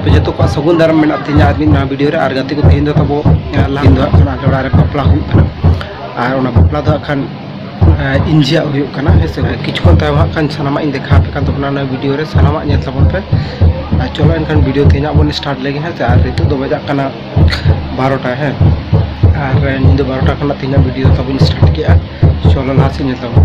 ᱟᱯᱮ ᱡᱚᱛᱚ ᱠᱚᱣᱟᱜ ᱥᱟᱹᱜᱩᱱ ᱫᱟᱨᱟᱢ ᱢᱮᱱᱟᱜ ᱛᱤᱧᱟ ᱟᱨ ᱢᱤᱫ ᱱᱚᱣᱟ ᱵᱷᱤᱰᱤᱭᱳ ᱨᱮ ᱟᱨ ᱜᱟᱛᱮ ᱠᱚ ᱛᱮᱦᱮᱧ ᱫᱚ ᱛᱟᱵᱚ ᱞᱟᱦᱟ ᱫᱚ ᱦᱟᱸᱜ ᱠᱷᱟᱱ ᱟᱡᱚᱲᱟ ᱨᱮ ᱵᱟᱯᱞᱟ ᱦᱩᱭᱩᱜ ᱠᱟᱱᱟ ᱟᱨ ᱚᱱᱟ ᱵᱟᱯᱞᱟ ᱫᱚ ᱦᱟᱸᱜ ᱠᱷᱟᱱ ᱤᱧᱡᱤᱭᱟᱜ ᱦᱩᱭᱩᱜ ᱠᱟᱱᱟ ᱦᱮᱸ ᱥᱮ ᱠᱤᱪᱷᱩ ᱠᱷᱚᱱ ᱛᱟᱭᱚᱢ ᱦᱟᱸᱜ ᱠᱷᱟᱱ ᱥᱟᱱᱟᱢᱟᱜ ᱤᱧ ᱫᱮᱠᱷᱟᱣ ᱟᱯᱮ ᱠᱟᱱ ᱛᱟᱵᱚᱱᱟ ᱱᱚᱣᱟ ᱵᱷᱤᱰᱤᱭᱳ ᱨᱮ ᱥᱟᱱᱟᱢᱟᱜ ᱧᱮᱞ ᱛᱟᱵᱚᱱ ᱯᱮ ᱟᱨ ᱪᱚᱞᱚ ᱮᱱᱠᱷᱟᱱ ᱵᱷᱤᱰᱤᱭᱳ ᱛᱮᱦᱮᱧ ᱦᱟᱸᱜ ᱵᱚᱱ ᱥᱴᱟᱨᱴ ᱞᱮᱜᱮ ᱦᱮᱸ ᱥᱮ ᱟᱨ ᱱᱤᱛᱚᱜ ᱫᱚ ᱵᱟᱡᱟᱜ ᱠᱟᱱᱟ ᱵᱟᱨᱚᱴᱟ ᱦᱮᱸ ᱟᱨ ᱧᱤᱫᱟᱹ ᱵᱟᱨᱚᱴᱟ ᱠᱷᱚᱱᱟᱜ ᱛᱮᱦᱮᱧᱟᱜ ᱵᱷᱤᱰᱤᱭᱳ ᱛᱟᱵᱚᱱ ᱥᱴᱟᱨᱴ ᱠᱮᱜᱼᱟ ᱪᱚᱞᱚ ᱞᱟᱦᱟ ᱥᱮᱫ ᱧᱮᱞ ᱛᱟᱵᱚᱱ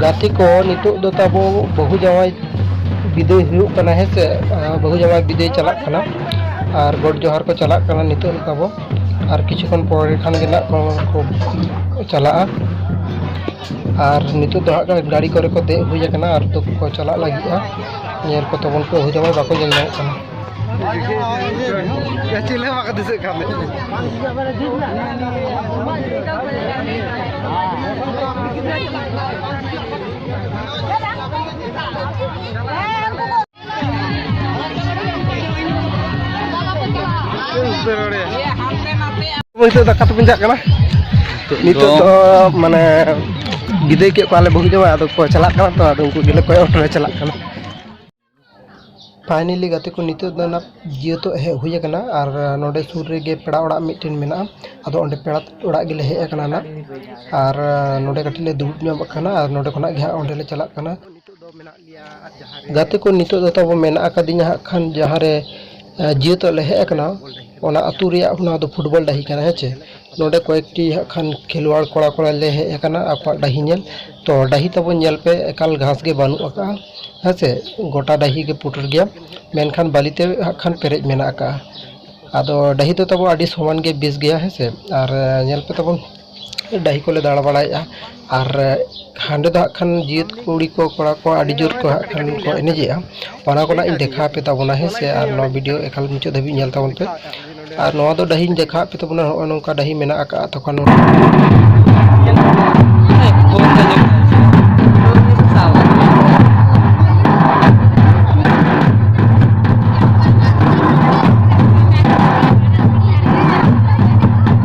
ᱜᱟᱛᱮ ᱠᱚ ᱱᱤᱛᱚᱜ ᱫᱚ ᱛᱟᱵᱚ ᱵᱟᱹᱦᱩ ᱡᱟᱶᱟᱭ ᱵᱤᱫᱟᱹᱭ ᱦᱩᱭᱩᱜ ᱠᱟᱱᱟ ᱦᱮᱸ ᱥᱮ ᱵᱟᱹᱦᱩ ᱡᱟᱶᱟᱭ ᱵᱤᱫᱟᱹᱭ ᱪᱟᱞᱟᱜ ᱠᱟᱱᱟ ᱟᱨ ᱜᱚᱰ ᱡᱚᱦᱟᱨ ᱠᱚ ᱪᱟᱞᱟᱜ ᱠᱟᱱᱟ ᱱᱤᱛᱚᱜ ᱫᱚ ᱛᱟᱵᱚ ᱟᱨ ᱠᱤᱪᱷᱩ ᱠᱷᱚᱱ ᱯᱚᱨᱮ ᱠᱷᱟᱱ ᱜᱮ ᱱᱟᱜ ᱠᱚ ᱪᱟᱞᱟᱜᱼᱟ ᱟᱨ ᱱᱤᱛᱚᱜ ᱫᱚ ᱦᱟᱸᱜ ᱜᱟᱹᱲᱤ ᱠᱚᱨᱮ ᱠᱚ ᱫᱮᱡ ᱦᱩᱭ ᱟᱠᱟᱱᱟ ᱟᱨ ᱫᱚᱠᱚ ᱪᱟᱞᱟᱜ ᱞᱟᱹᱜᱤᱫᱼᱟ ᱧᱮᱞ ᱠᱚ ᱛᱟᱵᱚᱱ ᱯᱮ ᱵᱟᱹᱦᱩ ᱡᱟᱶᱟᱭ ᱵᱟᱠᱚ ᱧᱮᱞ ᱧᱟᱢᱚᱜ ᱠᱟᱱᱟ ᱪᱮᱫ ᱦᱚᱸ ᱵᱟᱠᱚ ᱫᱤᱥᱟᱹᱜ ᱠᱟᱱ ᱱᱤᱛᱚᱜ ᱫᱟᱠᱟ ᱛᱮᱵᱚᱱ ᱪᱟᱜ ᱠᱟᱱᱟ ᱱᱤᱛᱚᱜ ᱫᱚ ᱢᱟᱱᱮ ᱵᱤᱫᱟᱹᱭ ᱠᱮᱫ ᱠᱚᱣᱟᱞᱮ ᱵᱟᱹᱦᱩ ᱡᱟᱶᱟᱭ ᱟᱫᱚ ᱠᱚ ᱪᱟᱞᱟᱜ ᱠᱟᱱᱟ ᱛᱚ ᱟᱫᱚ ᱩᱱᱠᱩ ᱜᱮᱞᱮ ᱠᱚᱭᱚᱜ ᱦᱚᱴᱚ ᱞᱮ ᱪᱟᱞᱟᱜ ᱠᱟᱱᱟ ᱯᱷᱟᱭᱱᱮᱞᱤ ᱜᱟᱛᱮ ᱠᱚ ᱱᱤᱛᱚᱜ ᱫᱚ ᱱᱟᱜ ᱡᱮᱦᱮᱛᱩ ᱦᱮᱡ ᱦᱩᱭ ᱠᱟᱱᱟ ᱟᱨ ᱱᱚᱸᱰᱮ ᱥᱩᱨ ᱨᱮᱜᱮ ᱯᱮᱲᱟ ᱚᱲᱟᱜ ᱢᱤᱫᱴᱮᱱ ᱢᱮᱱᱟᱜᱼᱟ ᱟᱫᱚ ᱚᱸᱰᱮ ᱯᱮᱲᱟ ᱚᱲᱟᱜ ᱜᱮᱞᱮ ᱦᱮᱡ ᱠᱟᱱᱟ ᱱᱟᱜ ᱟᱨ ᱱᱚᱸᱰᱮ ᱠᱟᱹᱴᱤᱡ ᱞᱮ ᱫᱩᱲᱩᱵ ᱧᱚᱜ ᱠᱟᱱᱟ ᱟᱨ ᱱᱚᱸᱰᱮ ᱠᱷᱚᱱᱟᱜ ᱜᱮ ᱦᱟᱸᱜ ᱚᱸᱰᱮ ᱞᱮ ᱪᱟᱞᱟᱜ ᱠᱟᱱᱟ ᱜᱟᱛᱮ ᱠᱚ ᱱᱤᱛᱚᱜ ᱫᱚ ᱛᱟᱵᱚ ᱢᱮᱱᱟᱜ ᱟᱠᱟᱫᱤᱧᱟ ᱦᱟᱸᱜ ᱠᱷᱟᱱ ᱡᱟᱦᱟᱸ ᱨᱮ ᱡᱮᱦᱮᱛᱩ ᱞᱮ ᱦᱮᱡ ᱠᱟᱱᱟ ᱚᱱᱟ ᱟᱹᱛᱩ ᱨᱮᱭᱟᱜ ᱚᱱᱟ ᱫᱚ ᱯᱷᱩᱴᱵᱚᱞ ᱰᱟᱹᱦᱤ ᱠᱟᱱᱟ ᱦᱮᱸ ᱪᱮ ᱱᱚᱰᱮ ᱠᱚᱭᱮᱠᱴᱤ ᱦᱟᱸᱜ ᱠᱷᱟᱱ ᱠᱷᱮᱞᱣᱟᱲ ᱠᱚᱲᱟ ᱠᱚᱲᱟ ᱞᱮ ᱦᱮᱡ ᱟᱠᱟᱱᱟ ᱟᱠᱚᱣᱟᱜ ᱰᱟᱹᱦᱤ ᱧᱮᱞ ᱛᱚ ᱰᱟᱹᱦᱤ ᱛᱟᱵᱚᱱ ᱧᱮᱞ ᱯᱮ ᱮᱠᱟᱞ ᱜᱷᱟᱥ ᱜᱮ ᱵᱟᱹᱱᱩᱜ ᱟᱠᱟᱜᱼᱟ ᱦᱮᱸ ᱥᱮ ᱜᱚᱴᱟ ᱰᱟᱹᱦᱤ ᱜᱮ ᱯᱩᱴᱩᱨ ᱜᱮᱭᱟ ᱢᱮᱱᱠᱷᱟᱱ ᱵᱟᱹᱞᱤ ᱛᱮ ᱦᱟᱸᱜ ᱠᱷᱟᱱ ᱯᱮᱨᱮᱡ ᱢᱮᱱᱟᱜ ᱟᱠᱟᱜᱼᱟ ᱟᱫᱚ ᱰᱟᱹᱦᱤ ᱫᱚ ᱛᱟᱵᱚ ᱟᱹᱰᱤ ᱥᱚᱢᱟᱱ ᱜᱮ ᱵᱮᱥ ᱜᱮᱭᱟ ᱦᱮᱸ ᱥᱮ ᱟᱨ ᱧᱮᱞ ᱯᱮ ᱛᱟᱵᱚᱱ ᱰᱟᱹᱦᱤ ᱠᱚᱞᱮ ᱫᱟᱬᱟ ᱵᱟᱲᱟᱭᱮᱜᱼᱟ ᱟᱨ ᱦᱟᱸᱰᱮ ᱫᱚ ᱦᱟᱸᱜ ᱠᱷᱟᱱ ᱡᱟᱹᱛ ᱠᱩᱲᱤ ᱠᱚ ᱠᱚᱲᱟ ᱠᱚ ᱟᱹᱰᱤ ᱡᱳᱨ ᱠᱚ ᱦᱟᱸᱜ ᱠᱷᱟᱱ ᱠᱚ ᱮᱱᱮᱡᱮᱜᱼᱟ ᱚᱱᱟ ᱠᱚ ᱱᱟᱜ ᱤᱧ ᱫᱮᱠᱷᱟᱣ ᱟᱯᱮ ᱛᱟᱵᱚᱱᱟ ᱦᱮᱸ ᱥᱮ ᱟᱨ ᱱᱚᱣᱟ ᱵᱷᱤᱰᱤᱭᱳ ᱮᱠᱟᱞ ᱢᱩᱪᱟᱹᱫ ᱫᱷᱟᱹᱵᱤᱡ ᱧᱮᱞ ᱛᱟᱵᱚᱱ ᱯᱮ ᱟᱨ ᱱᱚᱣᱟ ᱫᱚ ᱰᱟᱹᱦᱤᱧ ᱫᱮᱠᱷᱟᱣ ᱟᱯᱮ ᱛᱟᱵᱚᱱᱟ ᱱᱚᱜᱼᱚ ᱱᱚᱝᱠᱟ ᱰᱟᱹᱦᱤ ᱢᱮᱱᱟᱜ ᱟᱠᱟᱫᱼᱟ ᱛᱚᱠᱷᱚᱱ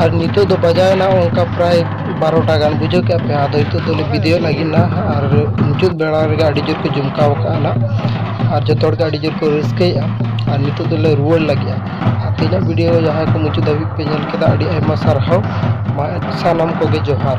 ᱟᱨ ᱱᱤᱛᱚᱜ ᱫᱚ ᱵᱟᱡᱟᱣᱮᱱᱟ ᱚᱱᱠᱟ ᱯᱨᱟᱭ ᱵᱟᱨᱚᱴᱟ ᱜᱟᱱ ᱵᱩᱡᱷᱟᱹᱣ ᱠᱮᱜᱼᱟ ᱯᱮ ᱟᱫᱚ ᱱᱤᱛᱚᱜ ᱫᱚᱞᱮ ᱵᱤᱫᱟᱹᱭᱚᱜ ᱞᱟᱹᱜᱤᱫ ᱱᱟ ᱟᱨ ᱢᱩᱪᱟᱹᱫ ᱵᱮᱲᱟ ᱨᱮᱜᱮ ᱟᱹᱰᱤ ᱡᱳᱨ ᱠᱚ ᱡᱚᱢᱠᱟᱣ ᱠᱟᱜᱼᱟ ᱱᱟᱜ ᱟᱨ ᱡᱚᱛᱚ ᱦᱚᱲᱜᱮ ᱟᱹᱰᱤ ᱡᱳᱨ ᱠᱚ ᱨᱟᱹᱥᱠᱟᱹᱭᱮᱫᱼᱟ ᱟᱨ ᱱᱤᱛᱚᱜ ᱫᱚᱞᱮ ᱨᱩᱣᱟᱹᱲ ᱞᱟᱹᱜᱤᱫᱼᱟ ᱟᱨ ᱛᱮᱦᱮᱧᱟᱜ ᱵᱷᱤᱰᱤᱭᱳ ᱡᱟᱦᱟᱸᱭ ᱠᱚ ᱢᱩᱪᱟᱹᱫ ᱫᱷᱟᱹᱵᱤᱡ ᱯᱮ ᱧᱮᱞ ᱠᱮᱫᱟ ᱟᱹᱰᱤ ᱟᱭᱢᱟ ᱥᱟᱨᱦᱟᱣ ᱢᱟ ᱥᱟᱱᱟᱢ ᱠᱚᱜᱮ ᱡᱚᱦᱟᱨ